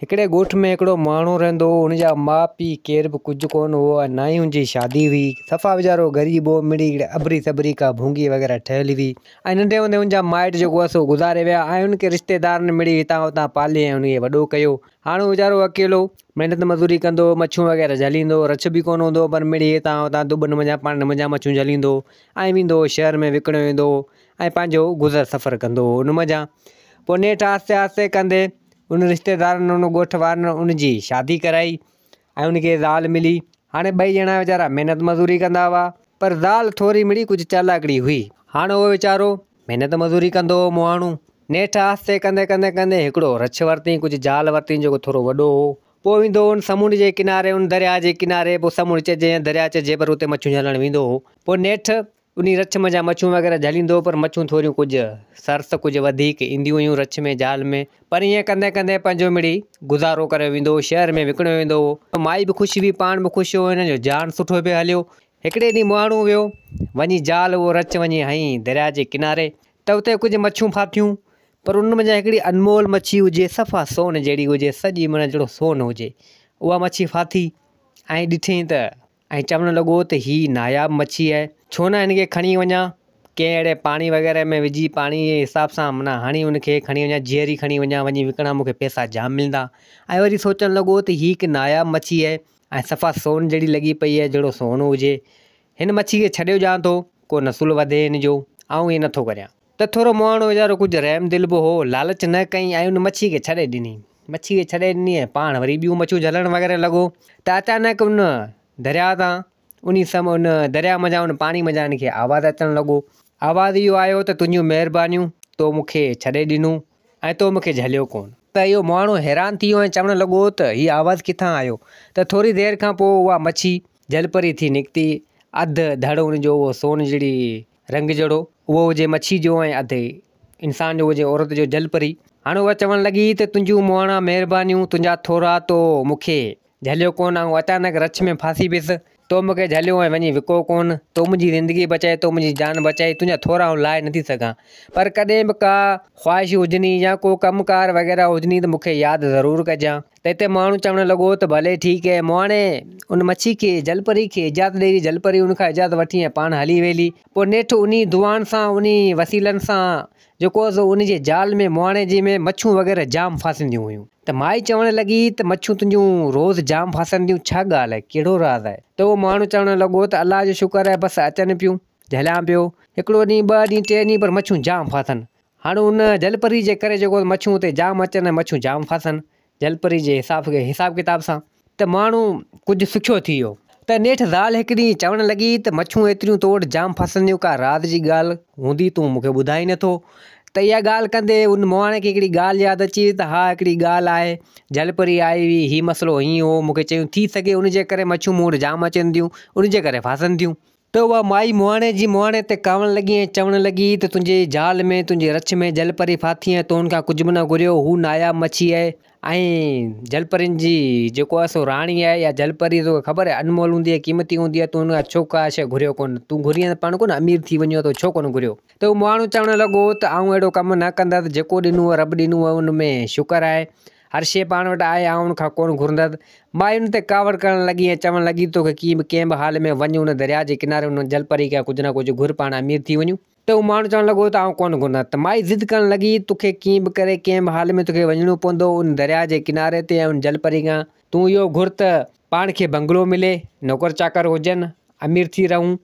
هڪڙي ڳوٺ ۾ هڪڙو ماڻهو رهندو هو. هن جا ماء پيء ڪير به ڪجهه ڪونه هئا ۽ نه ئي هن جي شادي هئي. صفا ويچارو غريب هو. مڙئي هڪڙي ابري سٻري ڪا ڀونگي وغيره ٺهيل هئي ۽ ننڍي هوندي هن جا مائٽ جيڪو هئا سو گذاري ويا ۽ هن کي رشتيدارن مڙئي هتان هتان پالي ۽ هن کي وڏو ڪيو. هاڻ هو ويچارو اڪيلو محنت مزوري ڪندو هو، مڇون وغيره جهليندو هو. رڇ به ڪونه هوندو هو پر مڙئي هتان هتان دٻن منجهان پاڻين منجهان مڇون جهليندو هو ۽ ويندو هو شهر ۾ وڪڻيو ويندو هو ۽ پنهنجو گذر سفر ڪندو هو. ان منجهان پوء نيٺ آهستي آهستي ڪندي ان رشتيدارن ان ڳوٺ وارن ان جي شادي ڪرائي ۽ ان کي زال ملي هاڻي ٻئي ڄڻا ويچارا محنت مزوري ڪندا هئا پر زال ٿوري مڙئي ڪجهه چالاڪڙي هئي هاڻي اهو ويچارو محنت مزوري ڪندو هو مهاڻو نيٺ آهستي ڪندي ڪندي ڪندي هڪڙو رڇ ورتئين ڪجهه زال ورتئين جيڪو ٿورو وڏو هو پوء ويندو هو ان سمنڊ جي ڪناري ان درياء جي ڪناري پوء سمنڊ چئجي يا درياء چئجي پر اتي مڇيون جهلڻ ويندو هو پوء نيٺ انهي رڇ منجهان مڇون وغيره جهليندو هو پر مڇون ٿوريون ڪجهه سرس ته ڪجهه وڌيڪ اينديون هيون رڇ ۾ جال ۾، پر ائين ڪندي ڪندي پنهنجو مڙئي گذارو ڪريو ويندو هو، شهر ۾ وڪڻيو ويندو هو، مائي به خوش هئي پاڻ به خوش هو هن جو جاڻ سٺو پيو هليو. هڪڙي ڏينهن مهاڻو ويو وڃي جال اهو رڇ وڃي هنئين درياء جي ڪناري ته اتي ڪجهه مڇون ڦاٿيون پر انهن منجهان هڪڙي انمول مڇي هجي صفا سون جهڙي هجي سڄي مڙئي جهڙو سون هجي اها مڇي ڦاٿي ۽ ڏٺئين ته ۽ چوڻ لڳو ته هي ناياب مڇي آهي، ڇو نه هن کي کڻي وڃان، ڪنهن اهڙي پاڻي وغيره ۾ وجهي پاڻي جي حساب سان معنيٰ هڻي ان کي کڻي وڃان، جيئري کڻي وڃان، وڃي وڪڻان مون کي پئسا جام ملندا. ۽ وري سوچڻ لڳو ته هي هڪ ناياب مڇي آهي ۽ صفا سون جهڙي لڳي پئي آهي، جهڙو سون هجي. هن مڇي کي ڇڏيو ڄان ٿو، ڪو نسل وڌي هن جو، آئون ائين نٿو ڪريان. ته ٿورو مهاڻو ويچارو ڪجهه رحم دل به هو، لالچ نه ڪيائين ۽ ان مڇي کي ڇڏي ڏني. مڇي کي ڇڏي ڏني ۽ پاڻ وري ٻيون مڇيون جهلڻ وغيره لڳو ته اچانڪ ان درياء تان انهي سم ان درياء منجهان ان پاڻي منجهان ان کي آواز اچڻ لڳو. آواز اهو آيو ته تنهنجون مهربانيون، تو مون کي ڇڏي ڏنو ۽ تو مون کي جهليو ڪونه. ته اهو مهاڻو حيران ٿي ويو ۽ چوڻ لڳو ته هي آواز ڪٿان آيو؟ ته ٿوري دير کان پوء اها مڇي جلپري ٿي نڪتي، اڌ ڌڙ ان جو اهو سون جهڙي رنگ جهڙو، اهو هجي مڇيء جو ۽ اڌ انسان جو هجي عورت جو جل پري. هاڻ اها چوڻ لڳي ته تنهنجون مهڻا مهربانيون، تنهنجا ٿورا، تو مون کي جهليو ڪونه، آئون اچانڪ رڇ ۾ ڦاسي ويس، تو مون کي جهليو ۽ وڃي وڪو ڪونه، تو منهنجي زندگي بچائي، تو منهنجي جان بچائي، تنهنجا ٿورا آئون لاهي نٿي سگهان، پر ڪڏهن به ڪا خواهش هجني يا ڪو ڪم ڪار وغيره هجني ته مون کي ياد ضرور ڪجان. تنهن تي مهاڻو چوڻ لڳو ته ڀلي ٺيڪ اي مهاڻي! ان مڇي کي، جل پري کي، اجازت ڏي، جل پري ان کان اجازت وٺي ۽ پاڻ هلي ويلي. پوء نيٺ انهي دعائن سان، انهي وسيلن سان جو ڪوس ان جي جال ۾ مهاڻي جي ۾ مڇون وغيره جام ڦاسنديون هيون ته مائي چوڻ لڳي ته مڇون تنهنجون روز جام ڦاسنديون ڇا ڳالهه اهي؟ ڪهڙو راز اهي؟ ته اهو مهاڻو چوڻ لڳو ته الله جو شڪر اهي بس اچن پيون، جهليان پيو. هڪڙو ڏينهن، ٻه ڏينهن، ٽي ڏينهن پر مڇون جام ڦاسن. هاڻ ان جلپري جي ڪري جيڪو مڇون اتي جام اچن ۽ مڇون جام ڦاسن جلپري جي حساب کي حساب ڪتاب سان ته ماڻهو ڪجهه سکيو ٿي ويو ته نيٺ زال هڪ ڏينهن چوڻ لڳي ته مڇون ايتريون تو وٽ جام ڦاسنديون ڪا راز جي ڳالهه هوندي تون مون کي ٻڌائين نه ٿو ته اها ڳالهه ڪندي ان مهاڻي کي هڪڙي ڳالهه ياد اچي وئي ته ها هڪڙي ڳالهه آهي جلپري آئي هئي هي مسئلو هيئن هو مون کي چيون ٿي سگهي ان جي ڪري مڇون مون وٽ جام اچن ٿيون ان جي ڪري ڦاسن ٿيون. ته اها مائي مهاڻي جي مهاڻي تي ڪاوڻ لڳي ۽ چوڻ لڳي ته تنهنجي جال ۾ تنهنجي رڇ ۾ جلپري ڦاٿي ۽ تو هن کان ڪجهه به نه گهريو هو ناياب مڇي آهي ۽ جلپرين جي جيڪو آهي سو راڻي آهي يا جلپري توکي خبر آهي انمول هوندي آهي قيمتي هوندي آهي تو هن کان ڇو ڪا شيء گهريو ڪونه تون گهرين ته پاڻ ڪونه امير ٿي وڃيو تو ڇو ڪونه گهريو ته اهو مهاڻو چوڻ لڳو ته آئون اهڙو ڪم نه ڪندس جيڪو ڏنو هو رب ڏنو هو ان ۾ شڪر آهي هر شيء پاڻ وٽ آهي، آئون ان کان ڪونه گهرندس. مائي ان تي ڪاوڙ ڪرڻ لڳي ۽ چوڻ لڳي، توکي ڪيئن به ڪنهن به حال ۾ وڃ ان درياء جي ڪناري ان جل پري کان ڪجهه نه ڪجهه گهر پاڻ امير ٿي وڃون. ته هو ماڻهو چوڻ لڳو ته آئون ڪونه گهرندس ته مائي ضد ڪرڻ لڳي، توکي ڪيئن به ڪري ڪنهن به حال ۾ توکي وڃڻو پوندو ان درياء جي ڪناري تي ۽ ان جل پري کان. تون اهو گهر ته پاڻ کي بنگلو ملي نوڪر چاڪر هجن امير ٿي رهون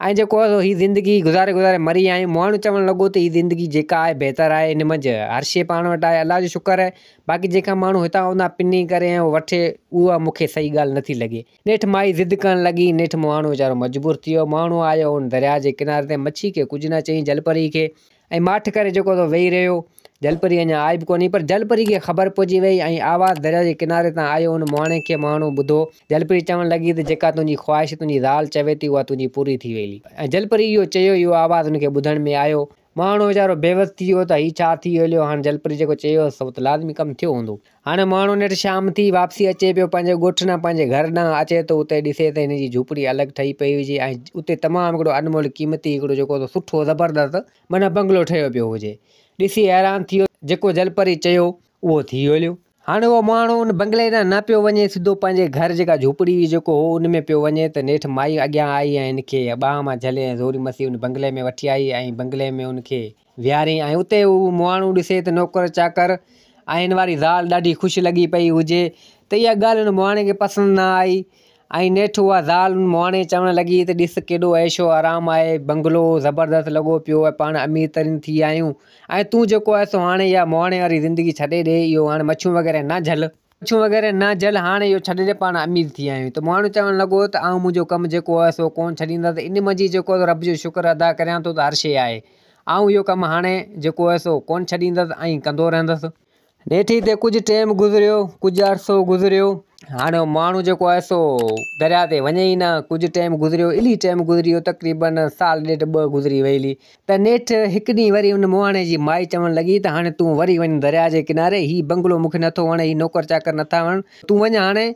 ۽ جيڪو آهي هي زندگي گذاري گذاري مري ويا آهيون ماڻهو چوڻ لڳو ته هي زندگي جيڪا آهي بهتر آهي ان منجهه هر شي پاڻ وٽ آهي الله جو شڪر آهي باقي جيڪا ماڻهو هتان هوندا پني ڪري ۽ وٺي اها مون کي صحيح ڳالهه نٿي لڳي نيٺ مائي ضد ڪرڻ لڳي نيٺ ماڻهو ويچارو مجبور ٿي ويو ماڻهو آيو ان درياء جي ڪناري تي مڇي کي ڪجهه نه چئي جلپري کي ائين ماٺ ڪري جيڪو سو ويهي رهيو. جلپري اڃا آئي به ڪونهي هئي، پر جلپري کي خبر پئجي ويئي ۽ آواز درياء جي ڪناري تان آيو، ان مهاڻي کي مهاڻو ٻڌو. جلپري چوڻ لڳي ته جيڪا تنهنجي خواهش تنهنجي زال چوي ٿي، اها تنهنجي پوري ٿي ويئي. ۽ جلپري اهو چيو، اهو آواز هن کي ٻڌڻ ۾ آيو. مهاڻو ويچارو بيوس ٿي ويو ته هي ڇا ٿي هليو، هاڻ جلپري جيڪو چيو هوس، سو ته لازمي ڪم ٿيو هوندو. هاڻي ماڻهو نيٺ شام ٿي واپسي اچي پيو پنهنجي ڳوٺ ڏانهن پنهنجي گهر ڏانهن اچي ٿو اتي ڏسي ته هن جي جهوپڙي الڳ ٺهي پئي هجي ۽ اتي تمام هڪڙو انمول قيمتي هڪڙو جيڪو ته سٺو زبردست معنيٰ بنگلو ٺهيو پيو هجي ڏسي حيران ٿيو جيڪو جلپري چيو اهو ٿي هليو. هاڻي اهو ماڻهو ان بنگلي ڏانهن نه پيو وڃي سڌو پنهنجي گهر جيڪا جهوپڙي هئي جيڪو هو ان ۾ پيو وڃي ته نيٺ مائي اڳيان آئي ۽ هن کي ٻانهن مان جهلي ۽ زوري مسي ان بنگلي ۾ وٺي آئي ۽ بنگلي ۾ ان کي ويهارين ۽ اتي هو مهاڻو ڏسي ته نوڪر چاڪر ۽ هن واري زال ڏاڍي خوش لڳي پئي هجي ته اها ڳالهه هن مهاڻي کي پسند نه آئي ۽ نيٺ اها زال هن مهاڻي چوڻ لڳي ته ڏس ڪيڏو عيش و آرام آهي بنگلو زبردست لڳو پيو آهي پاڻ امير ترين ٿي آهيون ۽ تون جيڪو آهي سو هاڻي اها مهاڻي واري زندگي ڇڏي ڏي اهو هاڻي مڇيون وغيره نه جهل پڇون وغيره نه جل هاڻ اهو ڇڏ جي پاڻ امير ٿي آهيون ته مهاڻو چوڻ لڳو ته آئون منهنجو ڪم جيڪو آهي سو ڪونه ڇڏيندس ان منجهه جيڪو آهي سو رب جو شڪر ادا ڪريان ٿو ته هر شيء آهي آئون اهو ڪم هاڻ جيڪو آهي سو ڪونه ڇڏيندس ۽ ڪندو رهندس. نيٺي تي ڪجهه ٽيم گذريو ڪجهه عرصو گذريو هاڻ اهو مهاڻو جيڪو آهي سو درياء تي وڃي ئي نه ڪجهه ٽيم گذريو الي ٽيم گذري ويو تقريبن سال ڏيڍ ٻه گذري ويلي ته نيٺ هڪ ڏينهن وري ان مهاڻي جي مائي چوڻ لڳي ته هاڻي تون وري وڃ درياء جي ڪناري، هي بنگلو مون کي نٿو وڻي، هي نوڪر چاڪر نٿا وڻن، تون وڃ هاڻي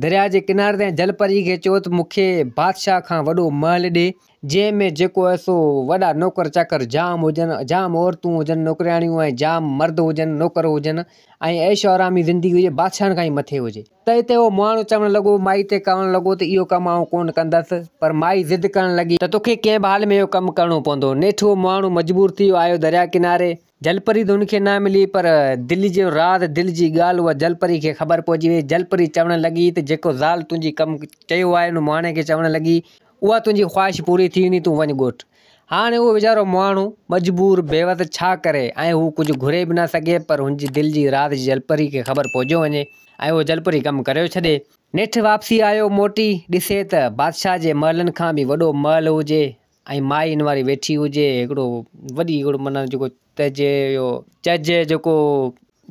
درياء جي ڪناري تي ۽ جل پريء کي چئو ته مون کي بادشاهه کان وڏو محل ڏي، جنهن ۾ جيڪو هي سو وڏا نوڪر چاڪر جام هجن، جام عورتون هجن نوڪرياڻيون ۽ جام مرد هجن نوڪر هجن ۽ عيش و آرامي زندگي هجي، بادشاهن کان ئي مٿي هجي. تنهن تي اهو مهاڻو چوڻ لڳو، مائي تي ڪاهڻ لڳو ته اهو ڪم آئون ڪونه ڪندس، پر مائي ضد ڪرڻ لڳي، ته توکي ڪنهن به حال ۾ اهو ڪم ڪرڻو پوندو، نيٺ اهو مهاڻو مجبور ٿي ويو، آيو درياء ڪناري، جل پري ته هن کي نه ملي، پر دل جو راز، دل جي ڳالهه اها جل پري کي خبر پئجي وئي، جل پري چوڻ لڳي ته جيڪو زال تنهنجي ڪم چيو آهي ان مهاڻي کي چوڻ لڳي، اها تنهنجي خواهش پوري ٿي ويندي، تون وڃ ڳوٺ. هاڻ اهو ويچارو مهاڻو مجبور بيوس ڇا ڪري ۽ هو ڪجهه گهري به نه سگهي پر هن جي دل جي راز جي جلپري کي خبر پهجيو وڃي ۽ اهو جلپري ڪم ڪريو ڇڏي. نيٺ واپسي آيو موٽي ڏسي ته بادشاهه جي محلن کان به وڏو محل هجي ۽ مائي ان واري ويٺي هجي هڪڙو وڏي هڪڙو معنيٰ جيڪو ته جي اهو چج جيڪو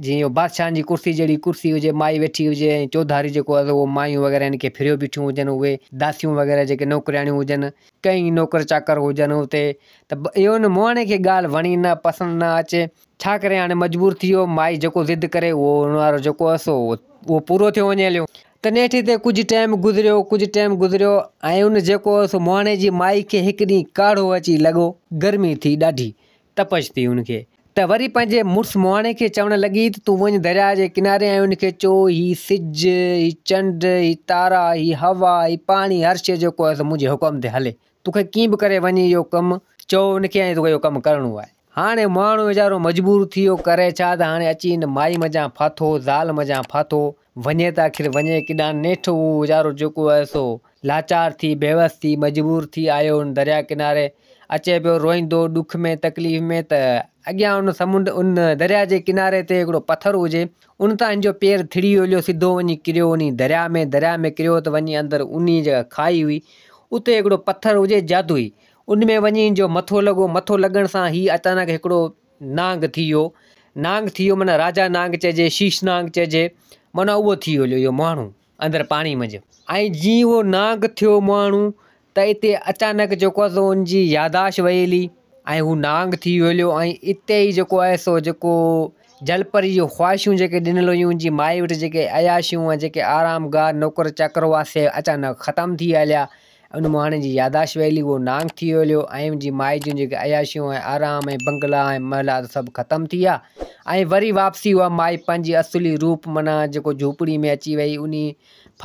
جيئن اهو بادشاهن جي ڪرسي جهڙي ڪرسي هجي مائي ويٺي هجي ۽ چوڌاري جيڪو آهي اهو مايون وغيره هن کي ڦريو بيٺيون هجن اهي داسيون وغيره جيڪي نوڪرياڻيون هجن ڪئين نوڪر چاڪر هجن اتي ته اهو هن مهاڻي کي ڳالهه وڻي نه پسند نه اچي ڇا ڪري هاڻي مجبور ٿي ويو مائي جيڪو ضد ڪري اهو ان وارو جيڪو هيس اهو پورو ٿيو وڃي هليو ته نيٺ هتي ڪجهه ٽيم گذريو ڪجهه ٽيم گذريو ۽ ان جيڪو هيس مهاڻي جي مائي کي هڪ ڏينهن ڪاڙهو اچي لڳو گرمي ٿي ڏاڍي تپش ٿي هن کي ته وري پنهنجي مڙس مهاڻي کي چوڻ لڳي ته تون وڃ درياء جي ڪناري ۽ ان کي چئو هي سج، هي چنڊ، هي تارا، هي هوا، هي پاڻي هر شيء جيڪو آهي سو منهنجي حڪم تي هلي. تون کي ڪيئن به ڪري وڃ اهو ڪم. چئو ان کي ۽ تو کي اهو ڪم ڪرڻو آهي. هاڻي مهاڻو ويچارو مجبور ٿي ويو ڪري ڇا ته هاڻي اچي هن مائي منجهان ڦاٿو، زال منجهان ڦاٿو. وڃي ته آخر وڃي ڪيڏانهن؟ نيٺ اهو ويچارو جيڪو آهي سو لاچار ٿي، بيوس ٿي، مجبور ٿي آيو ان درياء ڪناري. اچي پيو روئيندو، ڏک ۾ تڪليف ۾ ته اڳيان ان سمنڊ ان درياء جي ڪناري تي هڪڙو پٿر هجي، ان تان هن جو پير ٿڙي هليو، سڌو وڃي ڪريو انهي درياء ۾، درياء ۾ ڪريو ته وڃي اندر انهي جيڪا کاهي هئي، اتي هڪڙو پٿر هجي جادوئي، ان ۾ وڃي هن جو مٿو لڳو، مٿو لڳڻ سان هي اچانڪ هڪڙو. نانگ ٿي ويو، نانگ ٿي ويو معنيٰ راجا نانگ چئجي، شيش نانگ چئجي، معنيٰ اهو ٿي هليو اهو مهاڻو اندر پاڻي منجهه. ۽ جيئن اهو نانگ ٿيو مهاڻو ته اتي اچانڪ جيڪو آهي سو ان جي ياداشت وئي هلي ۽ هو نانگ ٿي هليو ۽ اتي ئي جيڪو آهي سو جيڪو جل پريء جون خواهشون جيڪي ڏنل هيون ان جي مائي وٽ جيڪي عياشيون ۽ جيڪي آرام گاهه نوڪر چاڪر هئا سي اچانڪ ختم ٿي هليا. ان مهاڻي جي ياداشت ويلي اهو نانگ ٿي ويو هليو ۽ ان جي مائي جون جيڪي عياشيون ۽ آرام ۽ بنگلا ۽ محلات سڀ ختم ٿي ويا ۽ وري واپسي اها مائي پنهنجي اصلي روپ معنيٰ جيڪو جهوپڙي ۾ اچي ويئي انهي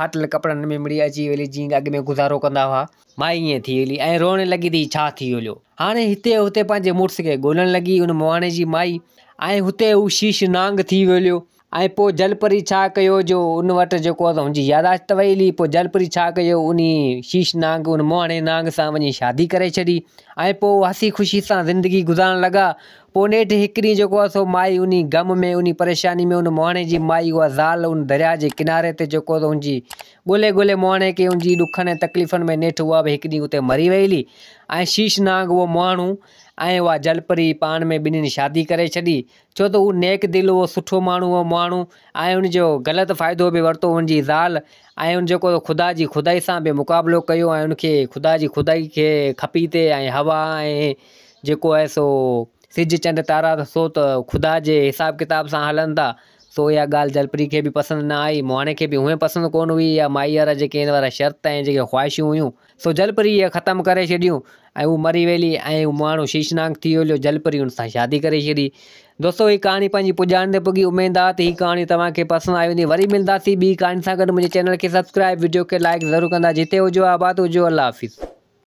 ڦاٽل ڪپڙن ۾ مڙي اچي ويلي جيئن اڳ ۾ گذارو ڪندا هئا. مائي ائين ٿي هلي ۽ روئڻ لڳي ته هي ڇا ٿي هليو. هاڻي هتي هتي پنهنجي مڙس کي ڳولڻ لڳي ان مهاڻي جي مائي ۽ هتي هو شيش نانگ ٿي ويو هليو. ۽ پوء جل پريء ڇا ڪيو جو ان وٽ جيڪو آهي سو هن جي ياداشت ته ويلي پوء جل پريء ڇا ڪيو انهي شيش نانگ ان موهڻي نانگ سان وڃي شادي ڪري ڇڏي ۽ پوء هو هسي خوشي سان زندگي گذارڻ لڳا پوء نيٺ هڪ ڏينهن جيڪو آهي سو مائي انهي غم ۾ انهي پريشاني ۾ ان موهڻي جي مائي اها زال ان درياء جي ڪناري تي جيڪو آهي سو هن جي ڳولي ڳولي موهڻي کي ان جي ڏکن ۽ تڪليفن ۾ نيٺ اها به هڪ ڏينهن اتي مري ويلي ۽ شيش نانگ اهو موهڻو ۽ اها جل پري پاڻ ۾ ٻنهين شادي ڪري ڇڏي ڇو ته هو نيڪ دل هو، سٺو ماڻهو هو، مهاڻو ۽ ان جو غلط فائدو به ورتو هن جي زال ۽ ان جيڪو خدا جي خدائي سان به مقابلو ڪيو ۽ ان کي خدا جي خدائي کي کپي تي ۽ هوا ۽ جيڪو آهي سو سج چنڊ تارا ته سو ته خدا جي حساب ڪتاب سان هلن ٿا سو اها ڳالهه جلپري کي به پسند نه آئي مهاڻي کي به هونئن پسند ڪونه هئي اها مائيء وارا جيڪي هن وارا شرط ۽ جيڪي خواهشون هيون سو جلپري اهي ختم ڪري ڇڏيون ۽ هو مري ويلي ۽ هو ماڻهو شيشناڪ ٿي ويلو جلپري هن سان شادي ڪري ڇڏي دوستو هي ڪهاڻي پنهنجي پڄاڻ تي پڳي اميد آ ته هي ڪهاڻي توهان کي پسند آئي هوندي وري ملنداسين ٻي ڪهاڻي سان گڏ منهنجي چينل کي سبسڪرائب وڊيو کي لائڪ ضرور ڪندا جتي هجو آباد هجو الله حافظ.